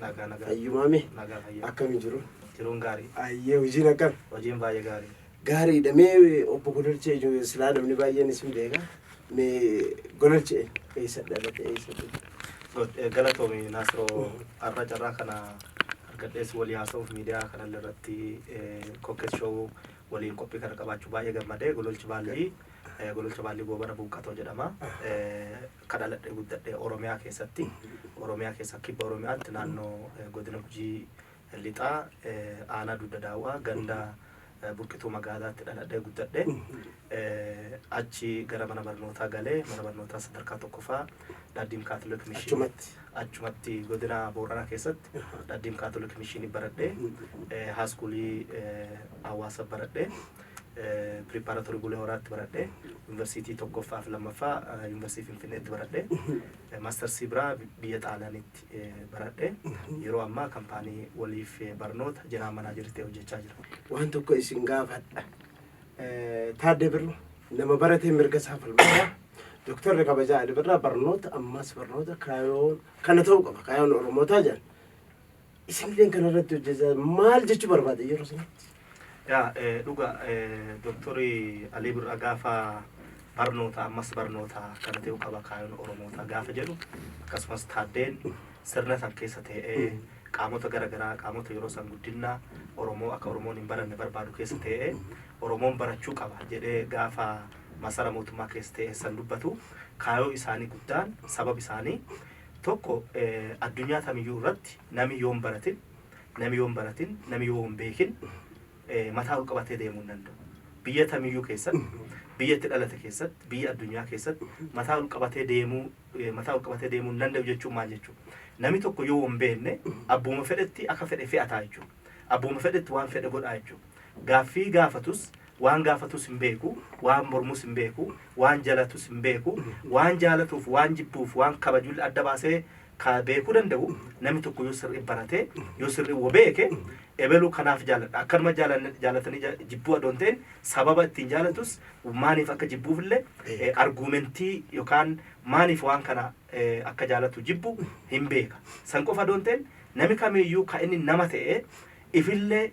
Nagaa nagaa. Fayyumaa mee Nagaa fayyaa. akkamii jiru? Jiruun gaarii. Ayyee hojiin akkam? Hojiin baay'ee gaarii. Gaariidha mee obbo Gololchee ijoollee silaa namni baay'een isin beeka. Mee Gololchee eessa dhalate eessa duute? Go- eh, Galatoomi Naasiroo har'a carraa kana argadhees walii haasa'uuf miidiyaa kanallee irratti eh, kokkes show waliin qophii kana qabaachuu baay'ee gammadee gololchi baallii eh, gololcha baallii goobana buuqqatoo jedhama. Eh, Ka dhaladhe guddadhe Oromiyaa keessatti. Oromiyaa keessaa Kibba Oromiyaatti naannoo Godina Gujii Lixaa Aanaa Dugda Daawwaa ganda Burqituu Magaalaatti dhaladhee guddadhe. Achi gara mana barnootaa gale. Mana barnootaa sadarkaa tokkofaa Dhaddiim Kaatolik Mishiin Achumatti. achumatti godina Booranaa keessatti Dhaddiim Kaatolik Mishiinii baradhe. Haaskuulii Hawaasa baradhe. Preparatory Bulee Horaatti baradhe. Yuunivarsiitii tokkoffaa fi lammaffaa Yuunivarsiitii Finfinneetti baradhe. Maastarsii biraa biyya Xaaliyaanitti baradhe. Yeroo ammaa kampaanii waliif barnoota jeneraa manaajerii ta'e hojjechaa jira. Waan tokko isin gaafadha. Taaddee Birru nama baratee mirga isaa falmadha. Doktorri kabajaa Ali Birraa barnoota ammaas barnoota kaayoon kana ta'uu qaba. Kaayoon Oromootaa jedhan. isinilleen kana irratti hojjechaa maal jechuu barbaade yeroo sanatti? Yaa eh, dhuga eh, doktorii Alii Birraa gaafa barnoota ammas barnoota kana ta'uu qaba kaayoon Oromootaa gaafa jedhu akkasumas taaddeen sirna san keessa ta'ee qaamota garaagaraa qaamota yeroo san guddinna Oromoo akka Oromoon hin baranne barbaadu keessa ta'ee Oromoon barachuu qaba jedhee gaafa masara mootummaa keessa ta'ee san dubbatu kaayoo isaanii guddaan sabab isaanii Tokko addunyaa tamiyyuu irratti nami yoo hin baratin, nami yoo hin baratin, nami yoo hin beekin mataa ol qabatee deemuu hin danda'u. Biyya tamiyyuu keessatti, biyya itti dhalate keessatti, biyya addunyaa keessatti mataa ol qabatee deemuu mataa ol qabatee deemuu hin danda'u jechuun maal jechuu? Nami tokko yoo hin beekne abbuma fedhetti akka fedhe fe'ataa jechuu. Abbuma fedhetti waan fedhe godhaa jechuu. Gaaffii gaafatus Waan gaafatus hin beeku, waan mormus hin beeku, waan jalatus hin beeku, waan jaalatuuf, waan jibbuuf, waan kabajulle adda baasee ka beekuu danda'u namni tokko yoo sirrii barate, yoo sirrii wa beeke, ebelu kanaaf jaaladha, akkanuma jaalanne jaalatanii ja jibbuu adoo hin ta'in sababa ittiin jaalatus, maaliif akka jibbuufille arguumentii yokaan maaliif waan kana akka jaalatu jibbu hin beeka. San qofa adoo hin ta'in nami kamiiyyuu ka inni nama ta'ee ifillee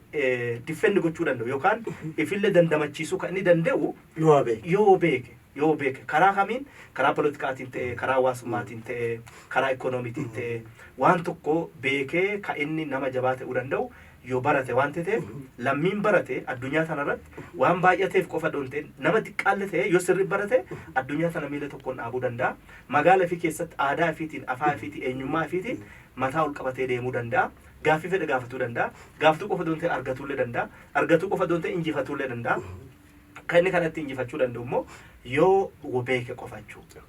defend gochuu danda'u yookaan ifillee dandamachiisuu kan inni danda'u Yoo beeku. yoo beeke yoo beeke karaa kamiin karaa politikaatiin ta'e karaa hawaasummaatiin ta'e karaa ikoonomiitiin ta'e waan tokko beekee ka inni nama jabaa ta'uu danda'u yoo barate waan ta'eef lammiin barate addunyaa tanarratti waan baay'ateef qofa doon ta'e nama xiqqaalle ta'e yoo sirri barate addunyaa tana miila tokkoon dhaabuu danda'a magaala fi keessatti aadaa ifiitiin afaa ifiitiin eenyummaa ifiitiin mataa ol qabatee deemuu danda'a gaaffii fedhe gaafatuu danda'a. Gaaftuu qofa doon ta'e argatuullee danda'a. Argatuu qofa doon ta'e injifatuullee danda'a. Kan inni kanatti injifachuu danda'u immoo yoo beeke qofa jechuudha.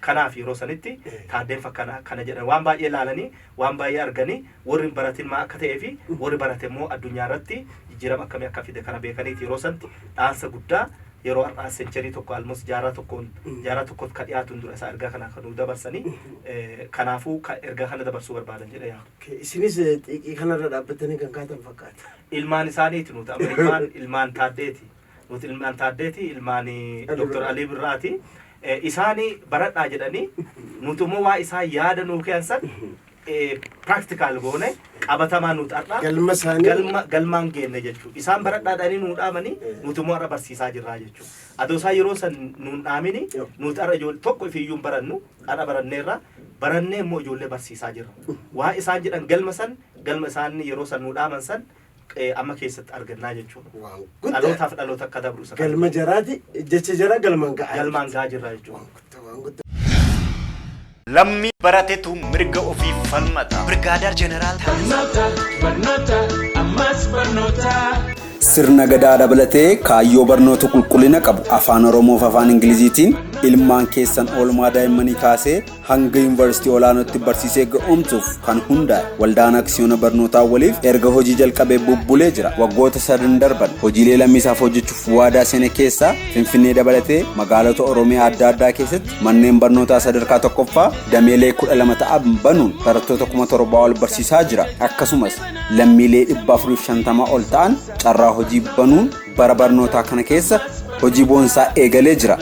Kanaaf yeroo sanitti taaddeen fakkana kana jedhan waan baay'ee laalanii waan baay'ee arganii warri hin baratin maa akka ta'ee fi warri barate immoo addunyaa irratti jijjiirama akkamii akka fide kana beekaniiti yeroo sanatti dhaansa guddaa yeroo har'aa sencherii tokko almost jaaraa tokkoon jaaraa tokkotti ka dhiyaatuun dura isaa ergaa kana kan nuu dabarsanii eh, kanaafuu ka ergaa kana dabarsuu barbaadan jedha yaa Okay, Isinis eh, xiiqii kanarra dhaabbattanii kan kaatan fakkaata. ilmaan isaaniiti nuti amma ilmaan ilmaan taaddeeti nuti ilmaan taaddeeti ilmaan Ali doktor Birraa. alii birraati Eh, isaani baradhaa jedhanii nuti immoo waa isaan yaada nuu keessan practical goone qabatamaa nuut har'a Galma isaanii- galma galmaan geenne jechuudha. Isaan baradhaa dhanii nuu dhaamanii nuti immoo har'a barsiisaa jirraa jechuudha. Adoo isaan yeroo san nuun dhaamini Yoo. nuti har'a ijoollee tokko ifiyyuu hin barannu har'a baranneerra barannee immoo ijoollee barsiisaa jirra. Waa isaan jedhan galma san galma isaan yeroo san nuu dhaaman san eh, amma keessatti argannaa jechuudha. Waan guddaa. Dhalootaaf dhaloota akka dabru isa kana. Galma jaraati jecha jaraa galmaan ga'a. Galmaan gahaa jirra jechuudha. Waan guddaa waan guddaa. Lammii baratetu mirga ofiif falmata. Birgaadaar Jeneraal Barnoota, barnoota, ammas barnoota. Sirna gadaa dabalatee kaayyoo barnoota qulqullina qabu afaan Oromoof afaan Ingiliziitiin ilmaan keessan oolmaa daa'immanii kaasee hanga yuunivarsiitii olaanootti barsiisee ga'oomsuuf kan hundaa'e waldaan aksiyoona barnootaa waliif erga hojii jalqabee bubbulee jira waggoota sadan darban hojiilee lammiisaaf hojjechuuf waadaa seene keessaa finfinnee dabalatee magaalota oromiyaa adda addaa keessatti manneen barnootaa sadarkaa tokkoffaa dameelee kudha lama ta'an banuun barattoota kuma torbaa ol barsiisaa jira akkasumas lammiilee dhibba afuriif shantamaa ol ta'an carraa hojii banuun Bara barnootaa kana keessa hojii boonsaa eegalee jira.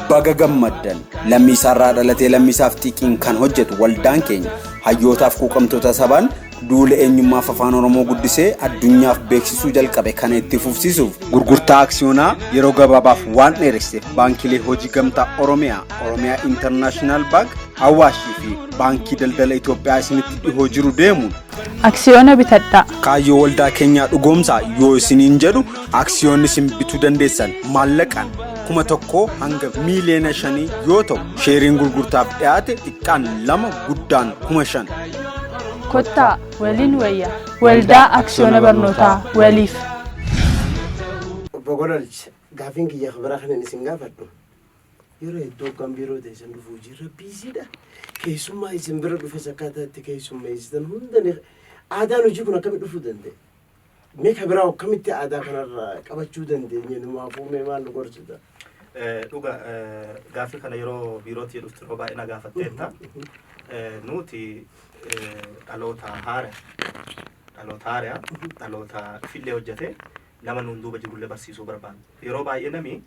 Baga gammaddan lammiisaarraa dhalatee lammiisaaf xiiqiin kan hojjetu waldaan keenya hayyootaaf quuqamtoota sabaan duula eenyummaaf afaan Oromoo guddisee addunyaaf beeksisuu jalqabe kana itti fufsiisuuf gurgurtaa aksiyoonaa yeroo gabaabaaf waan dheeresseef baankilee hojii gamtaa Oromiyaa, Oromiyaa Intarnaashinaal Baank, Awaashii fi Baankii Daldala Itoophiyaa isinitti dhihoo jiru deemuun Aksiyoona bitadhaa! Kaayyoo waldaa keenyaa dhugoomsaa yoo isiniin jedhu aksiyoonni isin bituu dandeessan maallaqaan kuma tokkoo hanga miiliyoona shanii yoo ta'u sheeriin gurgurtaaf dhiyaate xiqqaan lama guddaan kuma shan. Kottaa waliin wayya waldaa aksiyoona barnootaa waliif. Obbo Gololch, gaaffiin kiyya biraa kanan isin gaafadhu Yeroo hedduu akkan biiroo teessan dhufu hojii rabbii isiidha. Keessummaa isin bira dhufes akkaataa itti keessummeessitan hunda ni aadaan hojii kun akkamitti dhufuu danda'e? Mee ka biraa akkamitti aadaa kanarraa qabachuu dandeenye numaa fuumee maal nu gorsita? Eh, Dhuga eh, gaaffii kana yeroo biirootti jedhuftu yeroo baay'ee na gaafatteetta. Eh, Nuti eh, dhaloota haara dhaloota haara dhaloota fillee hojjete nama nuun duuba jirullee barsiisuu barbaanna. Yeroo baay'ee nami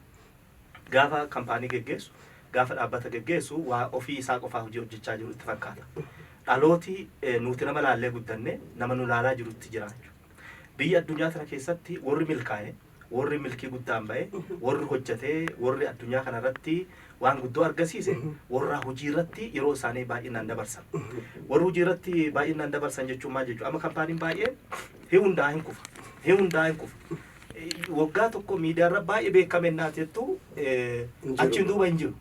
Gaafa kampaanii geggeessu, gaafa dhaabbata geggeessu waa ofii isaa qofaa hojii hojjechaa jiru itti fakkaata. Dhalooti nuuti nama laallee guddanne nama nu laalaa jirutti jira jechuudha. Biyya addunyaa tana keessatti worri milkaaye, worri milkii guddaan baye, worri hojjate, worri addunyaa kana irratti waan guddoo argasiise worra hujii irratti yeroo isaanii baay'innaan dabarsan. Worri hujii irratti baay'innaan dabarsan jechuun maal jechuudha? Amma kampaaniin baay'een hin hundaa'a hin kufa, hin hundaa'a hin kufa. waggaa tokko miidiyaarra baay'ee beekame innaa jettu achiin duuba hin jiru.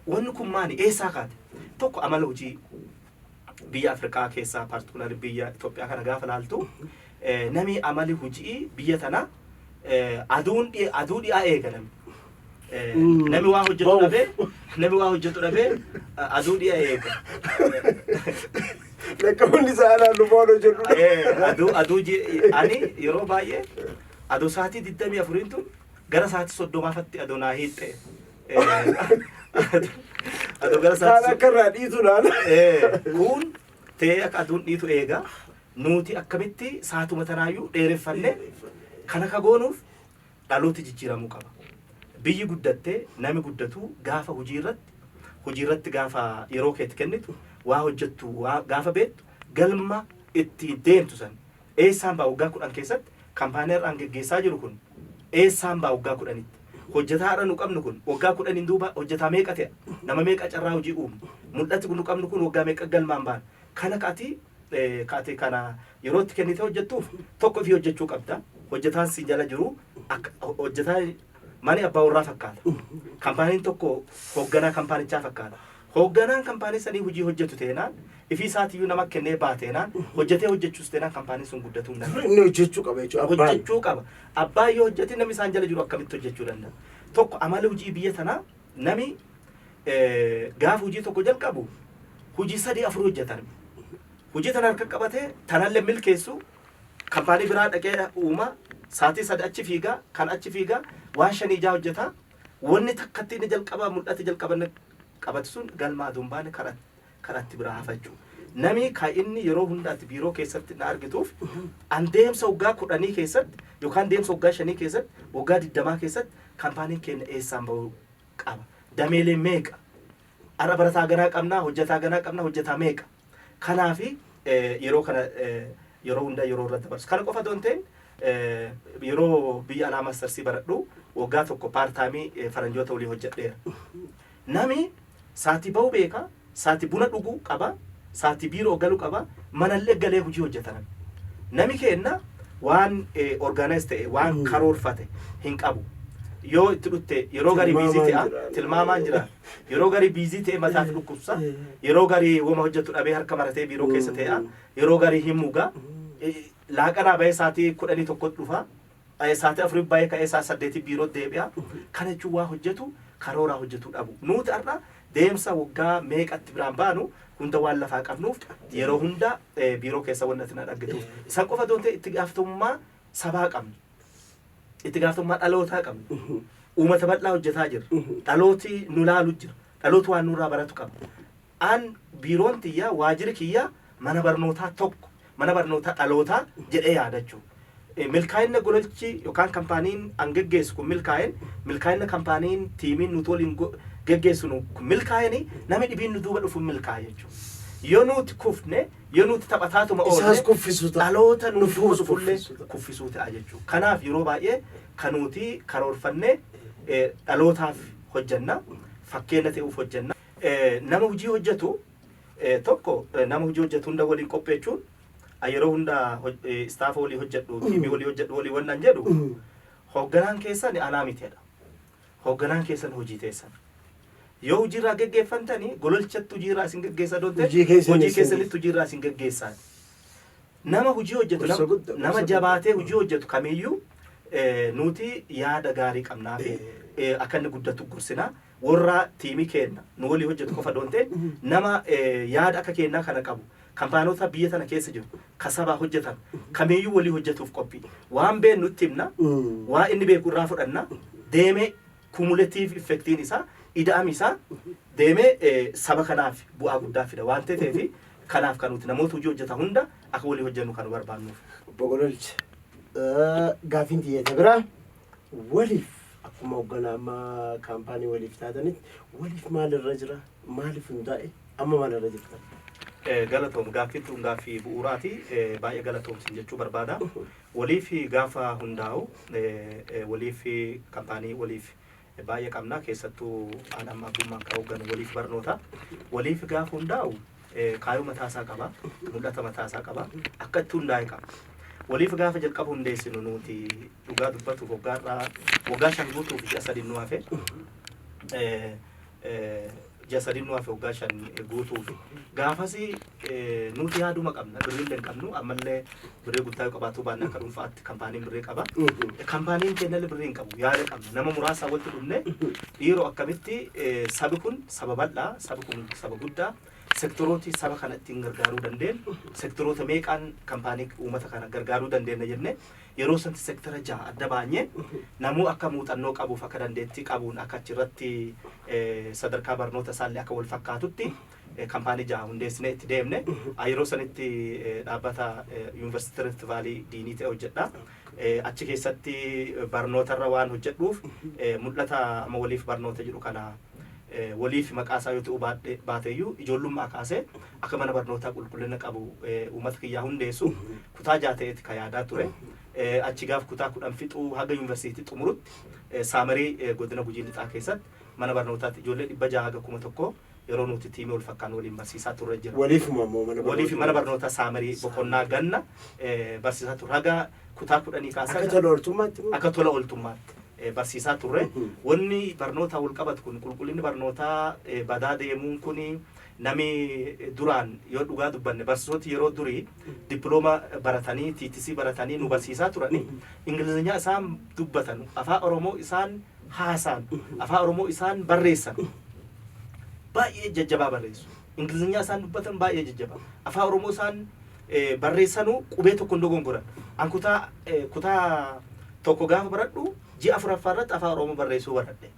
Wanni kun maali? Eessaa kaate? Tokko amala hojii biyya Afrikaa keessaa paartikular biyya Itoophiyaa kana gaafa laaltu namni amali hojii biyya tana aduun aduu dhi'aa eegalan Eh, Mm. Nami waa hojjetu Ba'uuf. dhabee nami waa hojjetu dhabee eh, aduu dhiya eega. Lakkoofni isaa anaan lubaan hojjedhu. Eh, Aduu aduu ji- ani yeroo baay'ee aduu sa'aatii digdamii afuriin tun gara sa'aatii soddomaafatti aduu naa hiixxe. Eh, Aduu gara Kaan sa'aatii akka irraa dhiitu naan. Eh, kun ta'ee akka aduun dhiitu eega nuti akkamitti saatuma tanaayyuu dheereffanne kan akka goonuuf Dhalooti jijjiiramuu qaba. Biyyi guddatte nami guddatuu gaafa hujii irratti hujii irratti gaafa yeroo kee itti kennitu waa hojjattu waa gaafa beettu galma itti deemtu san eessaan ba'a waggaa 10 keessatti kampaanii har'a an geggeessaa jiru kun eessaan ba'a waggaa 10tti hojjataa har'a nu qabnu kun waggaa 10n duuba hojjataa meeqa te'a nama meeqa carraa hojii uumna mul'ati nu qabnu kun waggaa meeqa galmaan baana kana ka ati eh, ka ati kana yeroo itti kennitee hojjettuuf tokko ifii hojjechuu qabda. Hojjetaan si jala jiru akka- ho- hojjetaa mana abbaa warraa fakkaata. Kampaaniin tokko hoogganaa kampaanichaa fakkaata. Hoogganaan kampaanii sanii hojii hojjetu teenaan ifii isaatiyyuu nama kennee baateenaan hojjetee hojjechuus teenaan kampaaniin sun guddatuu hin danda'u. Inni hojjechuu qaba jechuudha. Abbaan. hojjechuu qaba. Abbaan yoo hojjete namni isaan jala jiru akkamitti hojjechuu danda'a? Tokko amala hojii biyya tanaa Nami gaafa hujii tokko jalqabu hujii sadii afur hojjeta nami. Hujii tana harka qabatee tanallee milkeessu kampaanii biraa dhaqee uuma saatii sadi achi fiigaa kan achi fiigaa waan shanii ijaa hojjeta wanni takkatti inni jalqaba mul'ate jalqabanne qabatu sun galma aduun baane karaa kan atti biraa hafachu. Namii ka inni yeroo hunda ati biiroo keessatti na argituuf an deemsa waggaa kudhanii keessatti yookaan deemsa waggaa shanii keessatti waggaa digdamaa keessatti kampaaniin keenya eessaan bahuu qaba. Dameelee meeqa? Har'a barataa ganaa qabnaa, hojjetaa ganaa qabnaa, hojjetaa meeqa? Kanaafi eh, yeroo kana eh, yeroo hunda yeroo irra dabarsu. Kana qofa otoo hin ta'in eh, yeroo biyya alaa maastarsii baradhu waggaa tokko paartaamii eh, faranjoota waliin hojjedheera. Nami saati bahu beekha, saati buna d'ugu qaba, saati biiro galu qaba, manale gale huji hojata nami. Nami keenna waan organize ta'e, waan karoorfate hin qabu. Yoo itti dhutte yeroo gari busy Tilmaamaan te'a, jira. tilmaamaan jira. Yeroo gari busy ta'e mataati dhukkubsa, yeroo gari woma hojjatu dhabee harka maratee biiroo keessa te'a, yeroo gari hin muga. Laaqanaa bahee saati kudhanii tokkotti dhufa. Ka'ee saati afuri bahee ka'ee saa saddeeti biiroo deebi'a. Kana jechuun waa hojjetu karooraa hojjetuu dhabu. Nuuti har'a deemsa waggaa meeqatti biraan baanu hunda waan lafaa qabnuuf yeroo hunda biiroo keessa wanni ati na dhaggituuf. San qofa doon ta'e itti gaafatamummaa sabaa qabna. Itti gaafatamummaa dhalootaa qabna. Uumata bal'aa hojjetaa jirra. Dhalooti nu laalu jira. Dhalooti waan nurraa baratu qaba. An, biiroon tiyya, waajjiri kiyya mana barnootaa tokko, mana barnootaa dhalootaa jedhee yaadachuu. Milkaa'inna gololchi yokaan kampaaniin an geggeessu kun milkaa'een, milkaa'inna kampaaniin, tiimiin nuti waliin geggeessinu kun milkaa'een nami dhibiin nu duuba dhufu milkaa'a jechuu. Yoo nuuti kufne, yoo nuuti taphataatuma oolle, Isaas kuffisu ta'a. dhaloota nuuf Nufuus dhufulle kuffisu ta'a. kuffisuu ta'a jechuu. Kanaaf yeroo baay'ee ka nuuti karoorfanne dhalootaaf hojjanna, fakkeenna te'uuf hojjanna. Nama hojii hojjetu tokko nama hojii hojjetu hunda waliin qopheechuun yeroo hunda istaafa walii hojjedhu tiimii walii hojjedhu walii wannan jedhu hoogganaan keessan anaa miteedha. Hoogganaan keessan hojii teessan. Yoo hojiirraa geggeeffantanii gololchatti hojiirraa isin geggeessa doonte Hojii keessan hojii isin- keessanitti hojiirraa isin geggeessaan. Nama hojii hojjetu Gorsa nama- guddaa, nama gorsa jabaatee hojii hojjetu kamiyyuu eh, nuti yaada gaarii qabnaa fi eh, akka inni guddatu gorsinaa worraa tiimi keenna nu wolii hojjatu qofa adoo hin ta'in nama yaada akka keennaa kana qabu kampaanota biyya tana keessa jiru ka sabaa hojjatan kamiiyyuu wolii hojjatuuf qophii waan beennu itti himna waa inni beeku irraa fudhanna deemee kumuletiiv iffektiin isaa ida'ami isaa deemee saba kanaaf bu'aa guddaa fida waan ta'eef kanaaf kan nuti namoota hojii hojjata hunda akka wolii hojjannu kan nu barbaannuuf. Obbo Gololcha, gaaffiin tiyya isa biraa. Waliif akkuma hogganaa amma kaampaanii waliif taatanitti waliif maal irra jira? Maaliif hundaa'e? Amma maal irra jirtan? Galatoom gaaffiin tun gaaffii bu'uuraati. Baay'ee galatoom sin jechuu barbaada. Waliif gaafa hundaa'u waliif kaampaanii waliif baay'ee qabna keessattuu haadha amma abbummaan kan hoogganu waliif barnoota. Waliif gaafa hundaa'u kaayoo mataa isaa qaba, mul'ata mataa isaa qaba, akka itti hundaa'e qaba. Waliif gaafa jalqaba hundeessinu nuti dhugaa dubbatuuf waggaa irraa waggaa shan guutuuf ji'a sadii nu hafe ji'a sadii nu hafe waggaa shan guutuuf gaafasi nuti yaaduma qabna birriillee hin qabnu ammallee Birrii guddaa yoo qabaatu baanne akka dhuunfaatti kampaaniin birrii qaba. Kampaaniin keenyallee birrii hin qabu. Yaada qabna. Nama muraasaa walitti dhufne dhiiroo akkamitti eh, sabi kun saba bal'aa, sabi kun saba guddaa, sektorooti saba kana ittiin gargaaruu dandeenyu, sektoroota meeqaan kampaanii uummata kana gargaaruu dandeenya jennee yeroo sanatti sektara jaha adda baanyee namuu akka muuxannoo qabuuf akka dandeettii qabuun akka achirratti eh, sadarkaa barnoota isaallee akka wal fakkaatutti Kampaanii jaha hundeessinee itti deemne. Yeroo sanitti dhaabbata Yuunivarsiitii Rift Vaalii diinii ta'e hojjedha. Achi keessatti barnootarra waan hojjedhuuf mul'ata amma waliif barnoota jedhu kana waliif maqaa isaa yoo ta'uu baadhe baateeyyuu ijoollummaa kaasee akka mana barnootaa qulqullina qabu uummata kiyyaa hundeessu kutaa jaha ta'eeti ka yaadaa ture. Achi gaaf kutaa kudhan fixuu haga yuunivarsiitii xumurutti Saamarii godina Gujii Lixaa keessatti mana barnootaatti ijoollee dhibba jaha haga kuma tokkoo yeroo nuti tiimii wal fakkaannu waliin barsiisaa turre jira. Waliifuma immoo mana barnootaa. Waliif mana barnootaa saamarii boqonnaa ganna barsiisaa turre. Haga kutaa kudhanii kaasee. Akka tola ooltummaatti moo? Akka tola ooltummaatti barsiisaa turre. Wanni barnootaa wal qabatu kun qulqullinni barnootaa badaa deemuun kun nami duraan yoo dhugaa dubbanne barsiisoti yeroo durii dippilooma baratanii tiitisii baratanii nu barsiisaa turanii ingilizinyaa isaan dubbatan afaa oromoo isaan haasaan afaan oromoo isaan barreessan baay'ee jajjabaa barreessu ingilizinyaa isaan dubbatan baay'ee jajjabaa afaan oromoo isaan eh, barreessanuu qubee tokko hin dogongoran an kutaa eh, kutaa tokko gaafa baradhu ji'a afuraffaa irratti afaan oromoo barreessuu baradhe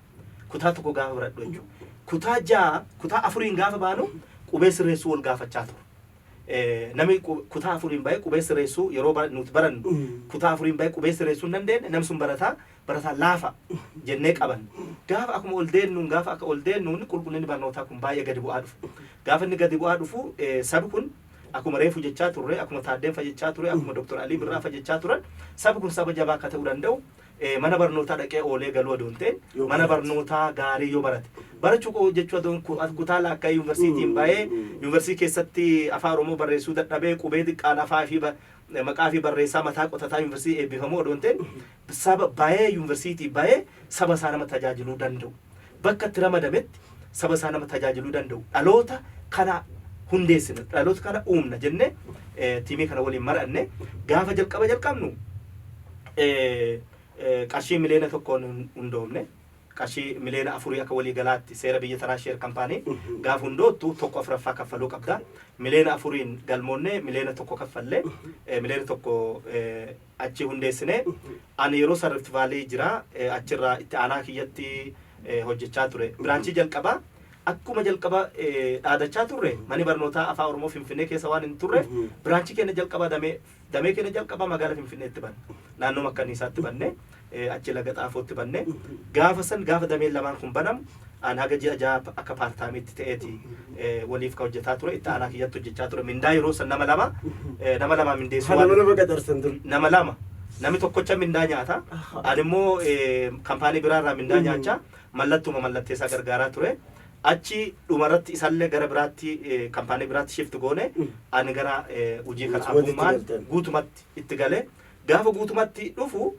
kutaa tokko gaafa baradhu jechuudha kutaa ja'a kutaa afuriin gaafa baanu qubee sirreessuu wal gaafachaa ture Eh, namni qu- kutaa afuriin bahee qubee sirreessuu yeroo bara- nuti barannu Mm. kutaa afuriin bahee qubee sirreessuu hin dandeenye namni sun barataa barataa laafa jennee qabanne. Gaafa akkuma ol deennuun gaafa akka ol deennuun qulqullinni barnootaa kun baay'ee gadi bu'aa dhufa. Gaafa inni gadi bu'aa dhufu eh, sabi kun akkuma reefu jechaa turre, akkuma Taaddeen fa jechaa ture, akkuma Dr. Alii Birraa fa jechaa turan sabi kun saba jabaa akka ta'uu danda'u eh, mana barnootaa dhaqee oolee galuu odoo hin ta'in Yoo mana barate. barnootaa gaarii yoo barate. Barachuu koo jechuu odoo hin- ku- kutaa laakkaa yuunivarsiitiin bahee yuunivarsiitii keessatti afaan Oromoo barreessuu dadhabee qubee xiqqaan afaa fi ba- maqaa fi barreessaa mataa qotataa yuunivarsiitii eebbifamu odoo hin ta'in Saba ba'ee yunversiitii ba'ee saba isaa nama tajaajiluu danda'u, bakka itti ramadametti saba isaa nama tajaajiluu danda'u dhaloota kana hundeessina, dhaloota kana uumna jennee tiimii kana waliin mari'anne. Gaafa jalqaba jalqabnu qarshii miliyoona tokkoon hin hundoofne. Qarshii miliyoona afurii akka walii galaatti seera biyya tanaa sheer kampaanii gaafa hundoottu tokko afuraffaa kaffaluu qabda. Miliyoona afuriin galmoonnee miliyoona tokko kaffalle. Miliyoona tokko achi hundeessine. Ani yeroo san Rift Valley jira. Achirraa itti aanaa kiyyatti hojjechaa ture. Biraanchii jalqabaa akkuma jalqaba dhaadachaa turre mani barnootaa Afaan Oromoo Finfinnee keessa waan hin turreef biraanchii keenya jalqabaa damee damee keenya jalqabaa magaala Finfinneetti banne. Naannoo Makkanniisaatti banne. achi Laga Xaafootti banne. Gaafa san gaafa dameen lamaan kun banamu an haga ji'a jahaa akka part time'tti ta'eeti waliif ka hojjetaa ture. Itti aanaa kiyyatti hojjechaa ture. Mindaa yeroo san nama lama nama lamaa mindeessuu Kan waan nama lama qaxarsan dur. nama lama namni tokkocha mindaa nyaata ani immoo eh, kampaanii biraa irraa mindaa nyaachaa mallattuma mallatteessaa gargaaraa ture achi dhumarratti isallee gara biraatti eh, kampaanii biraatti shift goone ani gara eh, hojii kana Guutumatti abbummaan galtan. guutumatti itti galee Gaafa guutumatti dhufu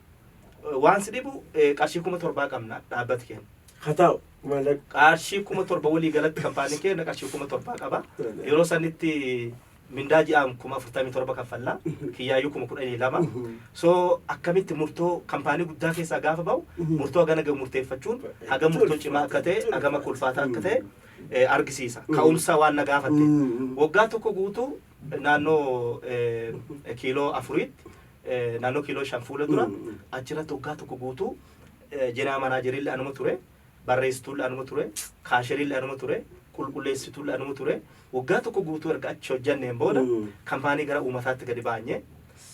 waan si dhibu qarshii kuma torbaa qabna dhaabbati keenya. Haa taa'u maallaqa. Qarshii kuma torba walii galatti kampaanii keenya qarshii kuma torbaa qaba. Yeroo sanitti mindaa ji'aan kuma afurtamii torba kaffalla. Kiyyaayyuu kuma kudhanii lama. So akkamitti murtoo kampaanii guddaa keessaa gaafa ba'u murtoo hagana gahu murteeffachuun hagam murtoo cimaa akka ta'e hagam akka ulfaataa akka ta'e argisiisa. Ka'umsa waan na gaafatte. Waggaa tokko guutuu naannoo kiiloo afuriitti naannoo kiiloo shan fuula dura achirratti waggaa tokko guutuu jenaa manaajerillee anuma ture barreessituullee anuma ture kaasherillee anuma ture qulqulleessituullee anuma ture waggaa tokko guutuu erga achi hojjanneen booda kampaanii gara uumataatti gadi baanye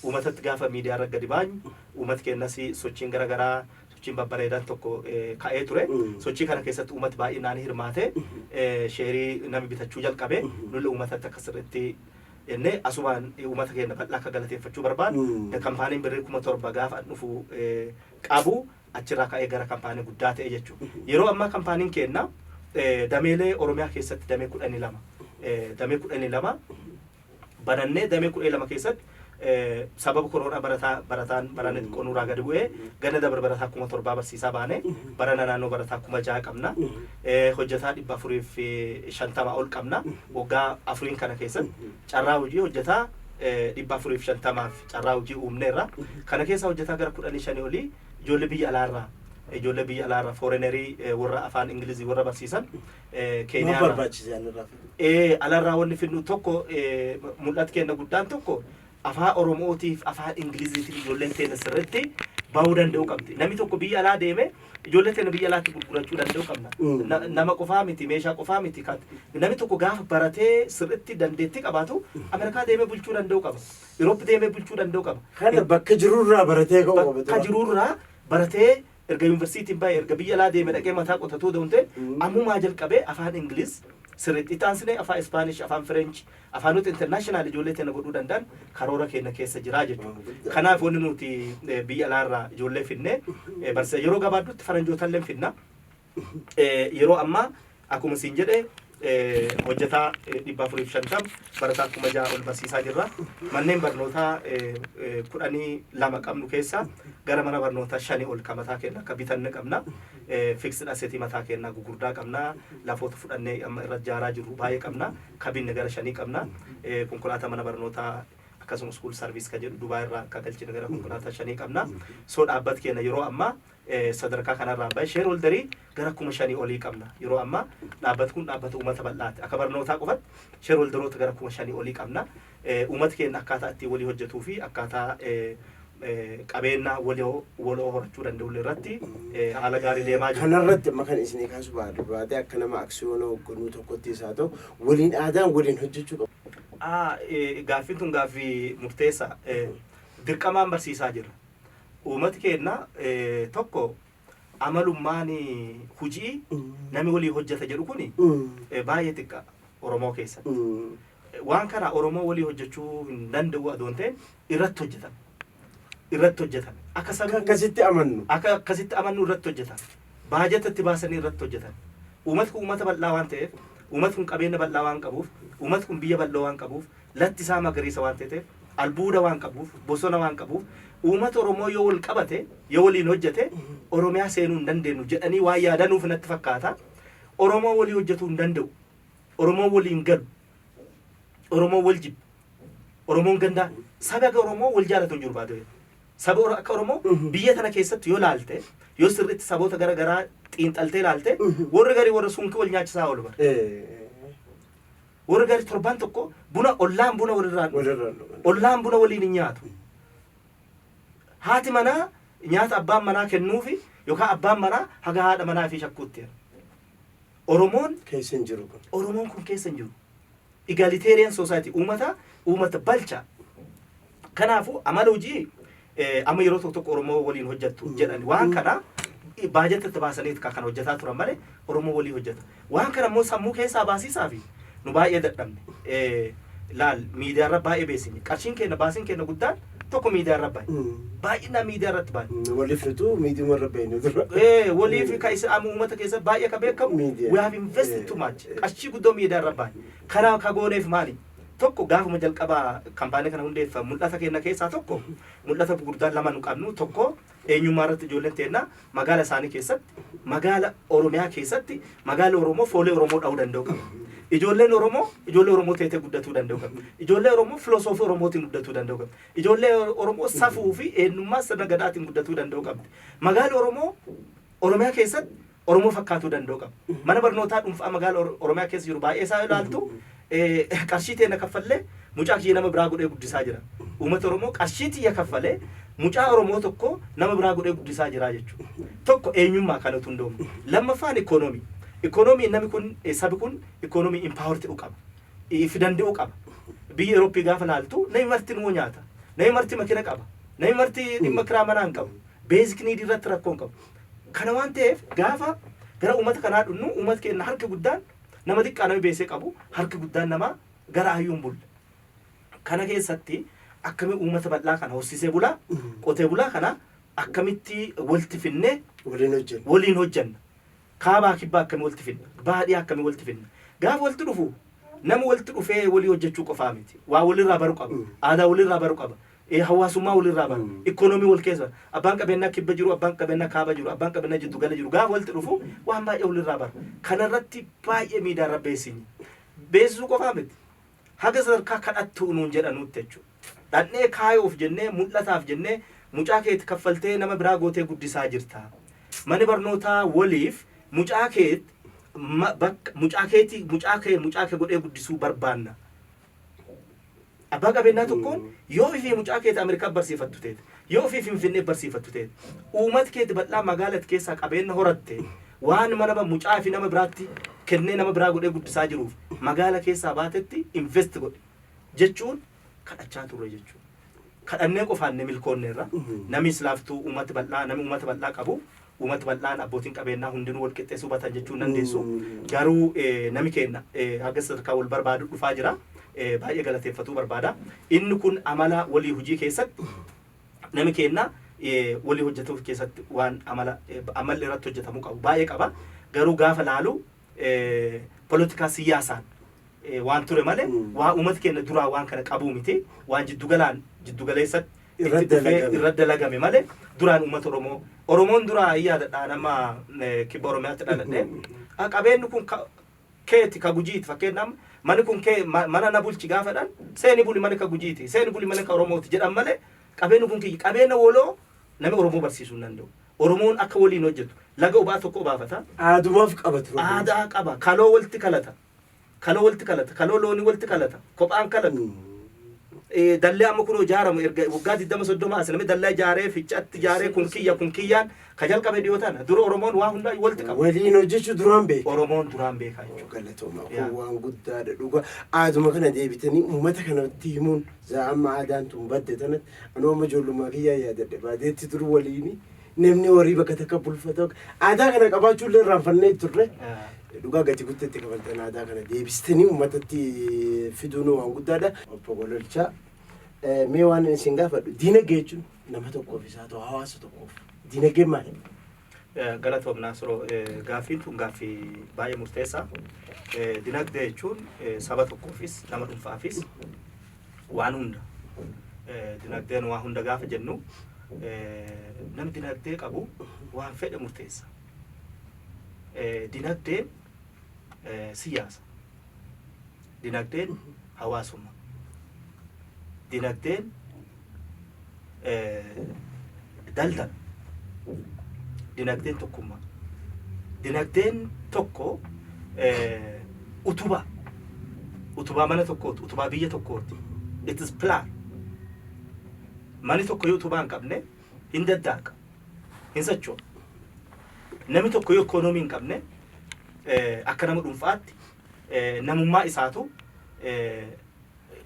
uumatatti gaafa miidiyaarra gadi baanyu uumat keennas sochiin gara garaa sochiin babbareedaan tokko ka'ee ture. Sochii kana keessatti uummati baay'inaan hirmaate. Sheerii nami bitachuu jalqabe. Nulli uummatatti akka sirriitti jennee asumaan uummata keenya bal'aa akka galateeffachuu barbaadu. Kampaaniin birrii kuma torba gaafa an dhufu qabu achirraa ka'ee gara kampaanii guddaa ta'e jechuudha. Yeroo ammaa kampaaniin keenya dameelee Oromiyaa keessatti damee kudhanii lama damee kudhanii lama banannee damee kudhee lama keessatti sababa koroonaa barataa barataan barana xiqqoo nurraa gadi bu'ee ganna dabre barataa kuma torbaa barsiisaa baane barana naannoo barataa kuma ja'a qabna hojjetaa dhibba afurii fi shantama ol qabna waggaa afuriin kana keessatti carraa hojii hojjetaa dhibba afurii fi shantamaaf carraa hojii uumneerra kana keessa hojjetaa gara kudhanii shanii olii ijoollee biyya alaarraa ijoollee biyya alaarraa foorenerii warra afaan ingilizii warra barsiisan Maaf Keeniyaa irraa. barbaachise ani irraa fiduu? Ee, alarraa wanni fidnu tokko ee, mul'at kenna guddaan tokko afaa Oromootiif afaa Ingiliziitiif ijoolleen teenya sirriitti bahuu danda'uu qabdi. Namni tokko biyya alaa deeme ijoollee teenya biyya alaatti gurgurachuu danda'uu qabna. Mm. Na- Nama qofaa miti meeshaa qofaa miti kan namni tokko gaafa baratee sirriitti dandeettii qabaatu Ameerikaa deemee bulchuu danda'uu qaba. Iroopi deemee bulchuu danda'uu qaba. Kana bakka jirurraa baratee ka'uu qaba. Bakka jirurraa baratee Erga yunversiitiin ba'e, erga biyya alaa deeme dhaqee mataa qotatuu dawunte, ammumaa jalqabee afaan Ingiliz sirriitti, itti aansinee afaa Ispaanish, afaan French, afaanota international ijoollee teenna godhuu danda'an karoora keenna keessa jira jechuudha. Kanaaf wanni nuti biyya alaa irraa ijoollee finnee barsiisa. Yeroo gabaabduutti faranjootalleen finna. Yeroo ammaa Akkuma siin jedhe hojjetaa 450, barataa 6000 ol barsiisaa jirra. Manneen barnootaa 12 qabnu keessaa gara mana barnootaa 5 ol ka mataa keenna akka bitanne qabna. Fixed asset mataa keennaa gugurdaa qabna. Lafoota fudhannee amma irra jaaraa jirru baay'ee qabna. Ka binne gara 5 qabna. Konkolaataa mana barnootaa akkasuma school service ka jedhu Dubai irraa ka galchine gara konkolaataa 5 qabna. So dhaabbat keenna yeroo ammaa sadarkaa kanarraa bahe shareholderii gara kuma shanii olii qabna. Yeroo ammaa dhaabbati kun dhaabbata uummata bal'aati. Akka barnootaa qofatti shareholderoota gara kuma shanii olii qabna. Uummati keenya akkaataa ittiin walii hojjetuu fi akkaataa qabeennaa waloo horachuu danda'ullee irratti haala gaarii deemaa jira. Kanarratti amma kan isinii kaasuu barbaade akka nama aksiyoona hoogganuu tokkotti isaa ta'u waliin aadaan waliin hojjechuu qabu. Gaaffiin tun gaaffii murteessaa. Dirqamaan barsiisaa jirra. Uumati keenna eh, tokko amalummaan hujii nami walii hojjata jedhu kuni eh, baay'ee xiqqa Oromoo keessatti. Waan kana Oromoo walii hojjechuu hin danda'u adoon ta'e irratti hojjetan. Irratti hojjetan. Akka Akka sabni akkasitti amannu. akka akkasitti amannu irratti hojjetan. Baajata itti baasanii irratti hojjetan. Uumat kun uummata bal'aa waan ta'eef, uumat kun qabeenya bal'aa waan qabuuf, uumat kun biyya bal'oo waan qabuuf, latti isaa magariisa waan teteef, albuuda waan qabuuf, bosona waan qabuuf, uumata Oromoo yoo wal qabate, yoo waliin hojjate, Oromiyaa seenuu hin dandeennu jedhanii waan yaadanuuf natti fakkaata. Oromoo walii hojjatuu hin danda'u. Oromoo walii hin galu. Oromoo wal jibba. Oromoon gandaa saba akka Oromoo wal jaalatu hin jiru baaduu. Saba Oro- akka Oromoo Mhm. biyya tana keessatti yoo laalte, yoo sirriitti saboota gara garaa xiinxaltee laalte, Mhm. warri garii warra sunkii wal nyaachisaa oolu bara. Eh, Warri gaarii torbaan tokko buna ollaan buna walirraa hin dhugu. Walirraa hin dhugan. Ollaan buna waliin hin nyaatu. Haati manaa nyaata abbaan manaa kennuufi yookaan abbaan manaa haga haadha manaa fi shakkuutti. jedha. Oromoon Keessa hin jiru kun. Oromoon kun keessa hin jiru. Egalitarian society uummata uummata balcha. Kanaafuu amala hojii amma yeroo tokko tokko Oromoo waliin hojjattu jedhan waan kana baajata itti baasanii kan hojjataa turan malee Oromoo walii hojjata. Waan kana immoo sammuu keessaa baasiisaa fi nu baay'ee dadhabne. Laal miidiyaa irra baay'ee beeksifne. Qarshiin keenya baasiin keenya guddaan tokko miidiyaa irra bahe. Baay'inaan miidiyaa irratti bahe. Waliif nutu miidiyuma irra bahine dura. Eh, walii fi kan isa amma uummata keessa baay'ee kan beekamu Miidiyaa. we have invested too much. Qarshii guddoo miidiyaa irra bahe. Kana ka gooneef maali? tokko gaafuma jalqabaa kampaanii kana hundeeffa mul'ata keenna keessaa tokko mul'ata gurguddaan lama nu qabnu tokko eenyummaa irratti ijoolleen teenna magaala isaanii keessatti magaala Oromiyaa keessatti magaala Oromoo foolee Oromoo dha'uu danda'u qaba. Ijoolleen Oromoo ijoollee Oromoo teetee guddatuu danda'u qaba. Ijoollee Oromoo filosoofii Oromootiin guddatuu danda'u qaba. Ijoollee Oromoo safuu fi eenyummaa sirna gadaatiin guddatuu danda'u qabdi. Magaala Oromoo Oromiyaa keessatti Oromoo fakkaatuu danda'u qaba. Mana barnootaa dhuunfaa magaala Or- Oromiyaa keessa jiru baay'ee isaa ilaaltu eh, qarshii teena kaffallee mucaa kiyya nama biraa godhee guddisaa jira. Uummata Oromoo qarshii tiyya kaffalee mucaa Oromoo tokko nama biraa godhee guddisaa jira jechuudha. Tokko eenyummaa kan utuu hundoomu. Lammaffaan ikoonoomii. Ikoonoomii namni kun eh, sabi kun ikoonoomii impaawar ta'uu qaba. If danda'uu qaba. Biyya Eurooppii gaafa laaltu namni marti nuu nyaata. Namni marti makina qaba. Namni marti dhimma kiraa manaa hin qabu. Beezik niidii irratti rakkoo hin qabu. Kana waan ta'eef gaafa gara uummata kanaa dhufnu uummati keenna harki guddaan nama xiqqaa nami beessee qabu harki guddaan namaa gara hayyuun bulla. Kana keessatti akkami uummata bal'aa kana horsiisee bulaa qotee bulaa kana akkamitti walti finnee Waliin hojjenna. waliin hojjanna. Kaabaa kibbaa akkami walti finna? Baadhiyaa akkami walti finna? Gaafa walti dhufu nama walti dhufee walii hojjechuu qofaa miti. Waa walirraa baru qaba. Mm. Aadaa walirraa baru qaba. e Hawaasummaa wal irraa baru, economy wal keessa baru, abbaan qabeenyaa kibba jiru, abbaan qabeenyaa kaaba jiru, abbaan qabeenyaa jiddu gala jiru gaafa walitti dhufu waan baay'ee wal irraa bara. Kana irratti baay'ee miidaa irra beeksinyii. Beeksisuu qofaa miti. Haga sadarkaa kadhattuu nuun jedhanuutti jechuudha. Dhaqnee kaayoof jennee, mul'ataaf jennee mucaa keeti kaffaltee nama biraa gootee guddisaa jirta. Mani barnootaa waliif mucaa keet ma bakka mucaa keetii mucaa kee mucaa kee godhee guddisuu barbaanna. Abbaa qabeenyaa tokkoon yoo ofii fi mucaa keeti Ameerikaa barsiifattu teete, yoo ofii Finfinnee barsiifattu teete, uumat keeti bal'aa magaalat keessaa qabeenna horatte, waan manama mucaa fi nama biraatti kennee nama biraa godhee guddisaa jiruuf magaala keessaa baatetti invest godhi jechuun kadhachaa turre jechuudha. Kadhannee qofaan ni milkoonneerra. Nami islaaftuu uumat bal'aa, nami uumat bal'aa qabu Umat bal'aan abbootin qabeennaa hundinuu wal qixxee suba tan jechuu hin dandeessu. Garuu nami keenna haga sadarkaa wal barbaadu dhufaa jira. Baay'ee galateeffatuu barbaada. Inni kun amala walii hujii keessatti nami keenna walii hojjatu keessatti waan amala ammalli irratti hojjatamuu qabu baay'ee qaba. Garuu gaafa laalu polotikaa siyyaasaan waan ture malee waa uummata keenya duraa waan kana qabuu miti waan jiddugalaan jiddugaleessatti Irra itti dhufee dalagame. irra dalagame malee duraan uummata Oromoo Oromoon duraa yaadadha nama eh, kibba Oromiyaatti dhaladhe Ah, qabeenyi kun ka- keeti ka gujiiti fakkeenyaaf mani kun kee ma- mana na bulchi gaafadhan seeni buli mana ka gujiiti seeni buli mana ka Oromooti jedhan malee qabeenyi kun kiyya qabeenya woloo Nami Oromoo barsiisuu hin danda'u. Oromoon akka waliin hojjetu. Laga obaa tokko obaafata. Aadumaaf qaba ture. Aadaa qaba. Kaloo walitti kalata. Kaloo walitti kalata. Kaloo loonii walitti kalata. Kophaan kalatu. Eh, Dallee amma kunoo ijaaramu erga waggaa 20 30 as namni dallaa ijaaree ficcatti ijaaree kun kiyya kun kiyyaan ka jalqabe dhiyoo tana. Dura Oromoon waa hundaa walitti qaba. Waliin hojjechuu duraan beeku. Oromoon duraan beekaa jechuudha. Galatooma Yaa. kun waan guddaadha dhugaa. Aaduma kana deebitanii uummata kanatti himuun zaa'amma aadaan tun badde tanatti Anuu amma ijoollummaa kiyyaa yaadadhe baadiyyaatti dur waliini namni horii bakka takka bulfata aadaa kana qabaachuu illee irraanfannee turre dhugaa gati guddaa itti kafaltan aadaa kana deebistanii uummatatti fiduun waan guddaadha. Obbo Gololchaa eh, mee waan isin gaafadhu diinagdee jechuun nama tokkoof isaa ta'u hawaasa tokkoof diinagdeen maali? Eh, Galatoom Naasiroo eh, gaaffiin tun gaaffii baay'ee murteessaa. Eh, Dinagdee jechuun eh, saba tokkoofis nama dhuunfaafis waan hunda dinagdeen waan hunda gaafa jennu namni dinagdee qabu waan fedhe murteessa. Dinagdeen siyaasa, dinagdeen hawaasummaa, dinagdeen daldala. Dinagdeen tokkummaa. Dinagdeen tokko utubaa. Utubaa mana tokkooti, utubaa biyya tokkooti. It is plan. Mani tokko yoo utubaa hin qabne hin daddaaqa, hin socho'a. Namni tokko yoo ikoonoomii hin qabne akka nama dhuunfaatti namummaa isaatu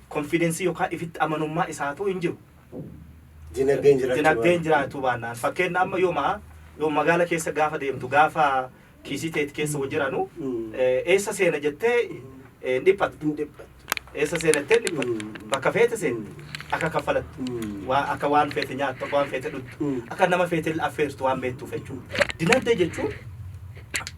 konfiidensii yookaan ifitti amanummaa isaatu hin jiru. Dinagdeen jiraachuu dinagdeen baannaan. jiraachuu baannaan fakkeenya amma yooma yoo magaala keessa gaafa deemtu gaafa kiisii teet keessa hojii jiranu Mm. eh, eessa seena jettee eh, hin dhiphattu Hin dhiphattu. eessa seena jettee hin dhiphattu Mm. bakka feete seente akka kaffalattu Mm. waa- akka waan feete nyaattu akka waan feete dhugdu Mm. akka nama feete affeertu waan beektuuf jechuudha dinagdee jechuun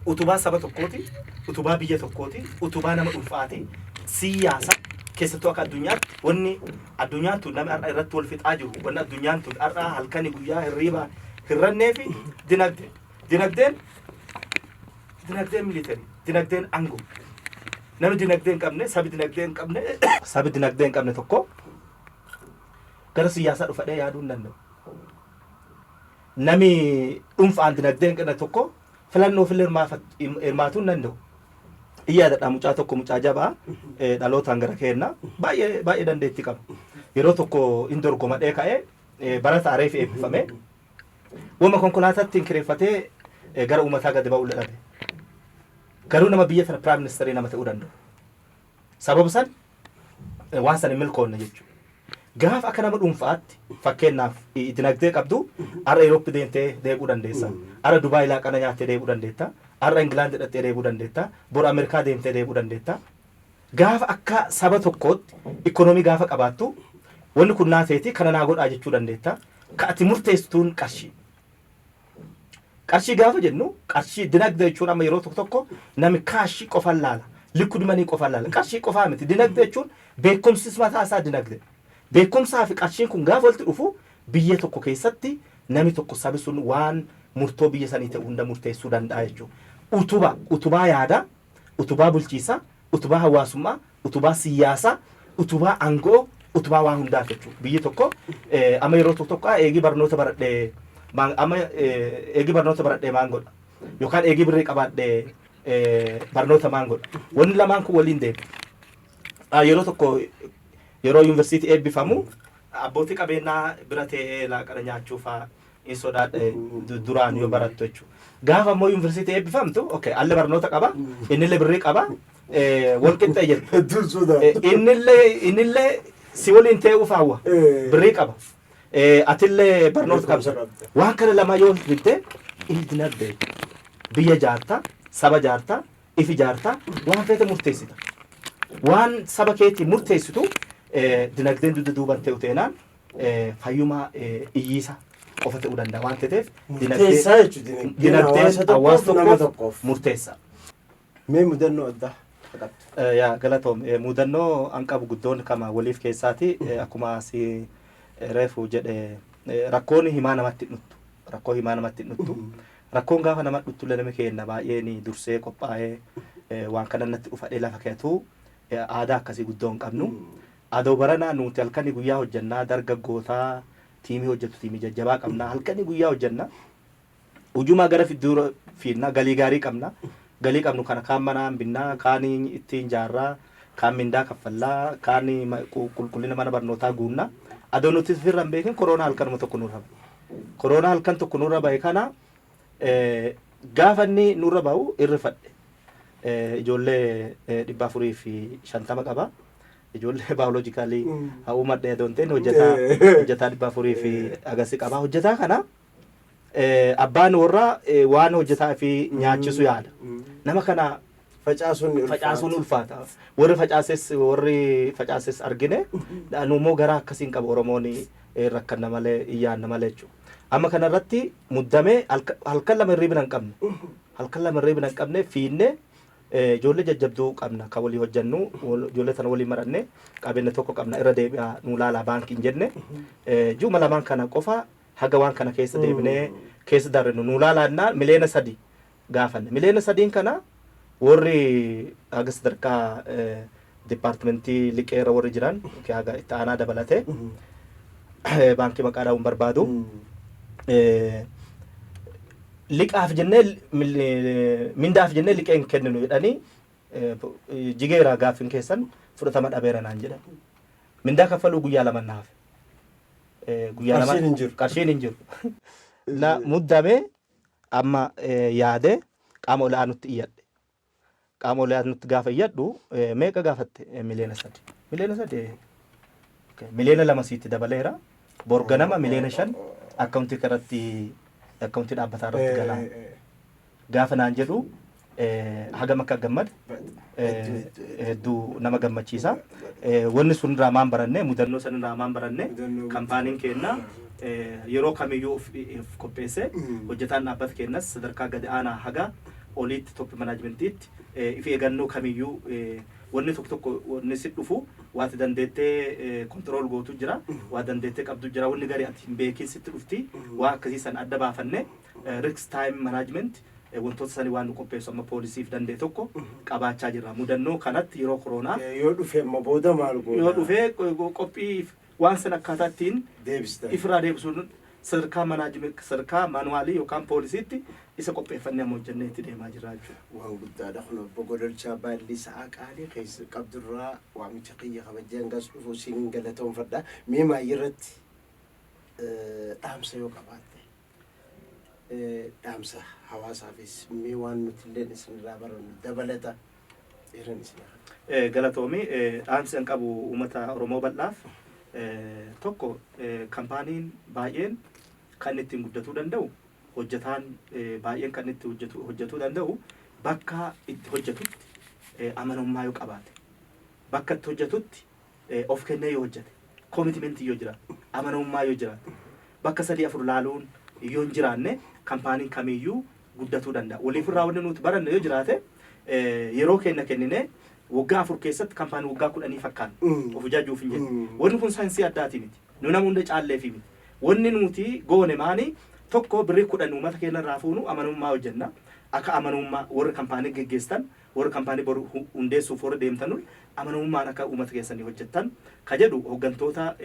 utubaa saba tokkooti utubaa biyya tokkooti utubaa nama dhuunfaati siyaasa keessattuu akka addunyaatti wanni Addunyaan tun namni har'a irratti wal fixaa jiru wanni addunyaan tun har'a halkani guyyaa hirriiba hirrannee fi dinagdee dinagdeen dinagdeen militari dinagdeen angoo namni dinagdee hin qabne sabi dinagdee hin qabne sabi dinagdee hin qabne tokko gara siyaasaa dhufadhee yaaduu hin danda'u. Nami dhuunfaan dinagdee hin qabne tokko Filannoof illee hirmaatuu hin danda'u. Hin yaadadha mucaa tokko mucaa jabaa dhalootaan gara keenna baay'ee baay'ee dandeetti qaba. Yeroo tokko hin dorgomadhee ka'ee barata areef eebbifame. Wama konkolaataatti hin kireeffatee gara uummataa gadi ba'uu dhabe. Garuu nama biyya tana piraayim ministeerii nama ta'uu danda'u. Sababa san waan san hin milkoonne jechuudha. Gaaf akka nama dhuunfa'aatti fakkeenyaaf dinagdee qabdu har'a Europe deemtee deebi'uu dandeessa. Har'a Dubai laaqana nyaattee deebi'uu dandeetta. Har'a England dhaqxee deebi'uu dandeetta. Bor Amerikaa deemtee deebi'uu dandeetta. Gaafa akka saba tokkootti ikkonoomii gaafa qabaattu wanni kun naa teeti kana naa godhaa jechuu dandeetta. Ka ati murteessituun qarshii. Qarshii gaafa jennu qarshii dinagdee jechuun amma yeroo tokko tokko nami kaashii qofan laala. Liquid money qofan laala. Qarshii qofaa miti. Dinagdee jechuun beekumsis mataa isaa dinagdee. Beekumsaa fi qarshiin kun gaafa walitti dhufu biyya tokko keessatti nami tokko sabi sun waan murtoo biyya sanii ta'u hunda murteessuu danda'a jechuudha. Utuba, utubaa yaadaa. utubaa bulchiisaa, utubaa hawaasummaa, utubaa siyyaasaa, utubaa ango'oo, utubaa waan hundaati jechuu. Biyyi tokko amma yeroo tokko tokko eegii barnoota baradhe amma eegii barnoota baradhe maan godha yookaan eegii birrii qabaadhe barnoota maan godha. Wanni lamaan kun waliin deema. Yeroo tokko yeroo yuunivarsiitii eebbifamu abbootii qabeenyaa bira tee'ee laaqana nyaachuu faa in sodaadha du- duraan yoo barattu jechuudha. Gaafa immoo yuunivarsiitii eebbifamtu okay, alle barnoota qaba innillee birrii qaba eh, wal qixxee jirtu. Hedduun sodaa. Eh, Innillee innillee si waliin ta'uuf hawwa Eh. birrii qaba. Eh, Atillee barnoota qabda. Barnoota qabda. Waan kana lama yoo himte inni dinagdee biyya jaartaa saba jaartaa ifi jaartaa waan feete murteessita. Waan saba keetii murteessitu eh, dinagdeen dugda duuban ta'u teenaan fayyumaa iyyiisa qofa ta'uu danda'a waan ta'eef Murteessaa jechuun dinagdeen dinagdeen hawaasa tokkoof hawaasa nama tokkoof tokkoof. murteessa. Mee mudannoo addaa akka qabdu. Eh, Yaa galatoom Eh, mudannoo an qabu guddoon kama waliif keessaati Eh, akkuma si eh, reefu jedhe eh, rakkoon himaa namatti hin dhuttu rakkoo himaa namatti hin dhuttu rakkoon gaafa nama dhuttu illee nama keenna baay'ee ni dursee qophaa'ee eh, waan kana natti dhufadhee lafa keetu eh, aadaa akkasii guddoo hin qabnu Adoo baranaa nuuti halkani guyyaa hojjannaa darga gootaa tiimii hojjatu tiimii jajjabaa qabnaa halkani guyyaa hojjanna ujumaa gara fidduura fiinnaa galii gaarii qabna galii qabnu kana kaan manaa hin binnaa kaan itti hin jaarraa kaan mindaa kaffallaa kaan qulqullina mana barnootaa guunna adoo nuti firra hin beekin koroonaa halkanuma tokko nurra ba'e koroonaa halkan tokko nurra ba'e kana Gaafa inni nurra bahu hin rifadhe. Ijoollee 450 qaba. Ijoollee baayoloojikaalii haa uumadhe adoo hin ta'in hojjetaa hojjetaa 400 fi agasi qaba. Hojjetaa kana abbaan warraa waan hojjetaa fi nyaachisu yaada. Nama kana Facaasuun ni ulfaata. facaasuun ulfaata. Warri facaases warri facaases argine nu immoo garaa akkasiin qaba Oromoon eh, rakkanna malee iyyaanna malee jechuudha. Amma kana irratti muddamee halka- halkan lama hirriibina hin qabne. Halkan lama hirriibina hin qabne fiinne eh, ijoollee jajjabduu qabna kan walii hojjannu wal- ijoollee tana walii maranne qabeenya tokko qabna irra deebi'aa nu laalaa baankiin jenne eh, ji'uma lamaan kana qofa haga waan kana keessa deebinee keessa darrinu nu laalaannaa miliyoona sadii gaafanne. Miliyoona sadiin kana worri haga sadarkaa departmentii liqee irra worri jiran yookiin haga itti aanaa dabalate baankii maqaa dhaa'uun barbaadu. Liqaaf jennee mindaaf jennee liqee hin kenninu jedhanii jigeera gaaffiin keessan fudhatama dhabeera naan jedhan. Mindaa kaffaluu guyyaa lama na hafe. Guyyaa lama qarshiin hin jiru. Na muddame Amma yaadee qaama ol aanutti iyyadhe. Qaama ol aanutti gaafa iyyadhu meeqa gaafatte? Miliyoona sadi. Miliyoona sadi miliyoona lama siitti dabaleera. Bor ganama miliyoona shan akkaawuntii irratti akkaawuntii dhaabbataa irratti galaa. Gaafa naan jedhu hagam akka gammade hedduu nama gammachiisa. Wanni sun irraa maan baranne mudannoo san irraa maan baranne kampaaniin keenna yeroo kamiyyuu of qopheesse hojjetaan dhaabbata keennas sadarkaa gadi aanaa haga oliitti top manaajimentiitti if eegannoo kamiyyuu wanni tokko tokko wanni si dhufu waati dandeettee kontirool gootu jira waa dandeettee qabdu jira wanni gari ati hin beekin sitti dhufti waa akkasii san adda baafanne risk time management wantoota sanii waan nu qopheessu amma poolisiif danda'e tokko qabaachaa jirra. Mudannoo kanatti yeroo koroonaa Eh, Yoo dhufe amma booda maal goota? yoo dhufe qo- qophii waan san akkaataa ittiin Deebistan. ifirraa deebisuun sadarkaa manaajime sadarkaa maanuwaalii yookaan poolisiitti isa qopheeffannee amma hojjennee itti deemaa jirra jechuudha. Waan guddaadha kun obbo Godolchaa baallii sa'aa qaalii keessa qabdurraa waamicha kiyya kabajee hangas dhufu siin galatoomfadha. Mee maayii irratti eh, dhaamsa yoo qabaatte? Dhaamsa hawaasaafis mee waan nuti illeen isinirraa barannu dabalata irran isin hafa. Galatoomi dhaamsi an qabu uummata Oromoo bal'aaf tokko kampaaniin baay'een kan inni ittiin guddatuu danda'u hojjetaan baay'een kan inni itti hojjetu hojjetuu danda'u bakka itti hojjetutti amanamummaa yoo qabaate bakka itti hojjetutti of kennee yoo hojjate, commitment yoo jiraate, amanamummaa yoo jiraate, bakka sadii afur laaluun yoo hin jiraanne kampaaniin kamiiyyuu guddatuu danda'a. Waliifirraa wanni nuti baranne yoo jiraate yeroo keenna kenninee waggaa afur keessatti kampaanii waggaa kudhanii fakkaanna. Mm. Of ijaajjuuf hin jennu. Mm. Wanni kun saayinsii addaati miti. Nu nama hunda caalleefi miti. Wanni nuti goone maani tokko birrii kudhan uummata keenya irraa fuunu amanamummaa hojjenna. Akka amanamummaa warri kampaanii geggeessan Warri kampaanii bor hundeessuuf warri deemtan hundi amanamummaan akka uummata keessanii hojjettan ka jedhu hoggantoota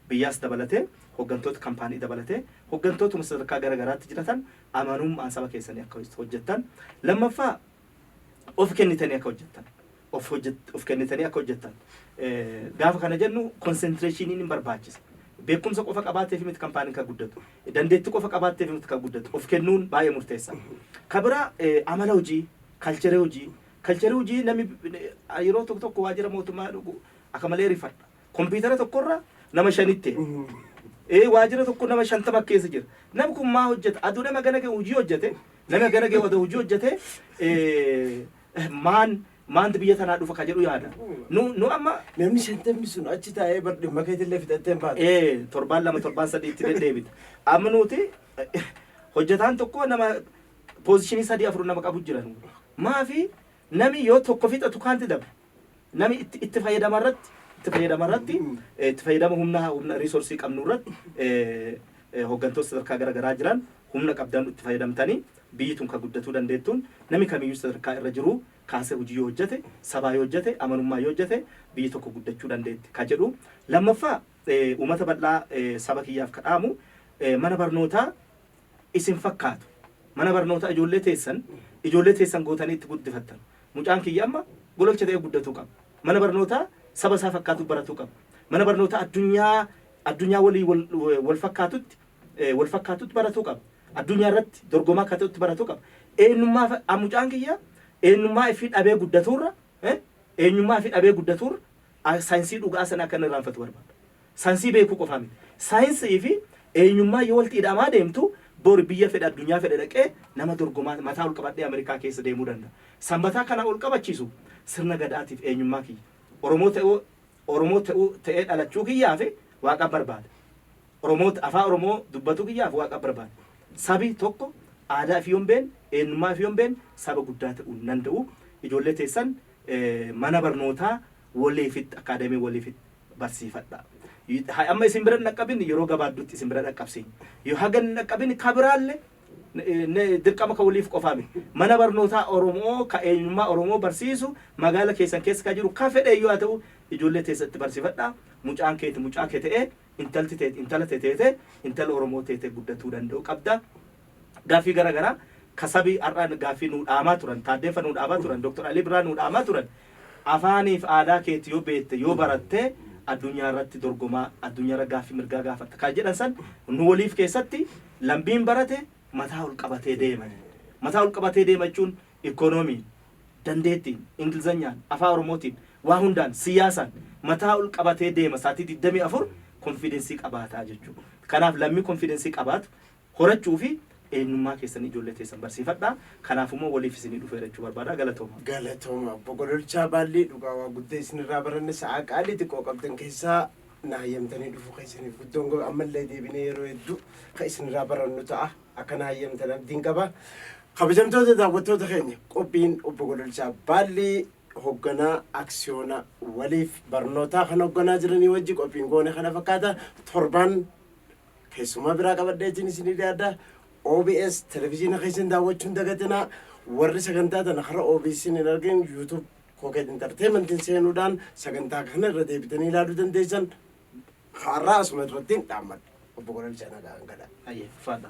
biyyaas dabalatee, hoggantoota kampaanii dabalatee, hoggantootuma sadarkaa gara garaatti jiratan amanummaan saba keessanii akka hojjettan, lammaffaa of kennitanii akka hojjettan, of hojjet of kennitanii akka hojjettan gaafa kana jennu konsentreshiniin hin barbaachisa. Beekumsa qofa qabaateef miti kampaaniin kan guddatu. Dandeettii qofa qabaatteef miti kan guddatu. Of kennuun baay'ee murteessa. Ka biraa amala hojii Kalchere hojii Kalchere hojii nami yeroo tokko tokko waajjira mootummaa dhugu akka malee rifadha. Kompiitara tokkorra nama shanitti. Ee waajjira tokko nama shantama keessa jira. Nam kun maa hojjeta? Aduu nama gana ga'e hojii hojjete. Nama gana ga'e aduu hojii hojjete. Ee, Maan maanti biyya tanaa dhufa ka jedhu yaada. Nu nu amma Namni shantamni sun achi taa'ee bar dhimma keetillee fixattee hin baatu. ee torbaan lama torbaan sadii itti deddeebita. Amma nuti hojjetaan tokko nama Position sadii afur nama qabu jira. Maafi nami yoo tokko fixatu kaanti dabe. Nami itti itti fayyadama irratti itti fayyadama irratti eh, itti fayyadama humna humna resource qabnu irratti eh, eh, hooggantoota sadarkaa gara garaa jiran humna qabdan itti fayyadamtanii biyyi tun kan guddatuu dandeettuun nami kamiyyuu sadarkaa irra jiru kaasee hojii yoo hojjete sabaa yoo hojjete amanummaa yoo hojjete biyyi tokko guddachuu dandeetti ka jedhu lammaffaa eh, uummata bal'aa eh, saba kiyyaaf kadhaamu eh, mana barnootaa isin fakkaatu. Mana barnootaa ijoollee teessan ijoollee teessan gootanii itti guddifattan. Mucaan kiyya amma gololcha ta'ee guddatuu qaba. Mana barnootaa saba isaa fakkaatu baratuu qaba. Mana barnootaa addunyaa addunyaa waliin wal, wal fakkaatutti eh, wal fakkaatutti baratuu qaba. Addunyaa irratti dorgomaa akka ta'utti baratuu qaba. Eenyummaa fa- ah, mucaan kiyya eenyummaa ifii dhabee guddatuurra eh, eenyummaa ifii dhabee guddatuurra ah, saayinsii dhugaa sana akka inni irraanfatu barbaada. Sansii beekuu qofaa miti. Saayinsii fi eenyummaan yoo walitti ida'amaa deemtu bori biyya fedhe addunyaa fedhe dhaqee nama dorgomaa mataa ol qabadhee Amerikaa keessa deemuu danda'a. Sanbataa kana ol qabachiisu sirna Gadaatiif eenyummaa kiyya. Oromoo ta'uu Oromoo ta'uu ta'ee dhalachuu kiyyaafi Waaqan barbaada. Oromoo ta Afaa Oromoo dubbatuu kiyyaaf Waaqan barbaada. Sabi tokko aadaa ifii yoo hin beenne, eenyummaa ifii yoo hin beenne saba guddaa ta'uu hin danda'u. Ijoollee teessan mana barnootaa Waliifit Academy Waliifit. barsiifadhaa. Ha- Amma isin bira hin dhaqqabin yeroo gabaabduutti isin bira dhaqqabsiin. Yoo haga hin dhaqqabin ka biraallee eh, ne- dirqama ka waliif qofaa miti. Mana barnootaa Oromoo ka eenyummaa Oromoo barsiisu magaala keessan keessa ka jiru ka fedhe yoo haa ta'u ijoollee teessatti barsiifadhaa. Mucaan keeti mucaa kee ta'ee intalti teeti intala tee teete intala Oromoo teete guddatuu danda'u qabda. Gaaffii gara garaa ka sabi har'a gaaffii nuu dhaamaa turan, Taaddeeffa nuu dhaamaa turan, Dr. Alii Birraa nuu dhaamaa turan, afaanii fi aadaa keeti yoo beette, yoo baratte addunyaa irratti dorgomaa, addunyaa irra gaaffii mirgaa gaafatta ka jedhan san nu waliif keessatti lambiin barate mataa ol qabatee deema. Mataa ol qabatee deema jechuun ikoonomiin, dandeettiin, Ingilizanyaan, Afaa Oromootiin, waa hundaan, siyaasaan mataa ol qabatee deema saatii 24 konfiidensii qabaata jechuu dha. Kanaaf lammi konfiidensii qabaatu horachuu fi eenyummaa keessan ijoollee teessan barsiifadhaa. Kanaaf immoo waliif isinii dhufeera jechuu barbaada. Galatooma. Galatooma obbo Gololchaa Baallii dhugaa waa gudda isinirraa baranne sa'aa qaalii xiqqoo qabdan keessaa na hayyamtanii dhufuu keessaniif guddoon gaba ammallee deebinee yeroo hedduu ka isinirraa barannu ta'a akka na hayyamtan abdiin qaba. Kabajamtoota daawwattoota keenya qophiin obbo Gololchaa Baallii hogganaa aksiyoona waliif barnootaa kan hogganaa jiranii wajji qophiin goone kana fakkaata torbaan Keessummaa biraa qabadheetiin isinii dhiyaadha. OBS televiziina keessan daawwachuun dagatinaa warri sagantaa tana karaa OBS hin argin YouTube Koket Entertainment seenuudhaan sagantaa kana irra deebitanii ilaaluu dandeessan. Har'aa asuma irratti hin dhaammadha. Obbo Gololchaa nagaan gala. Ayyee, faadha.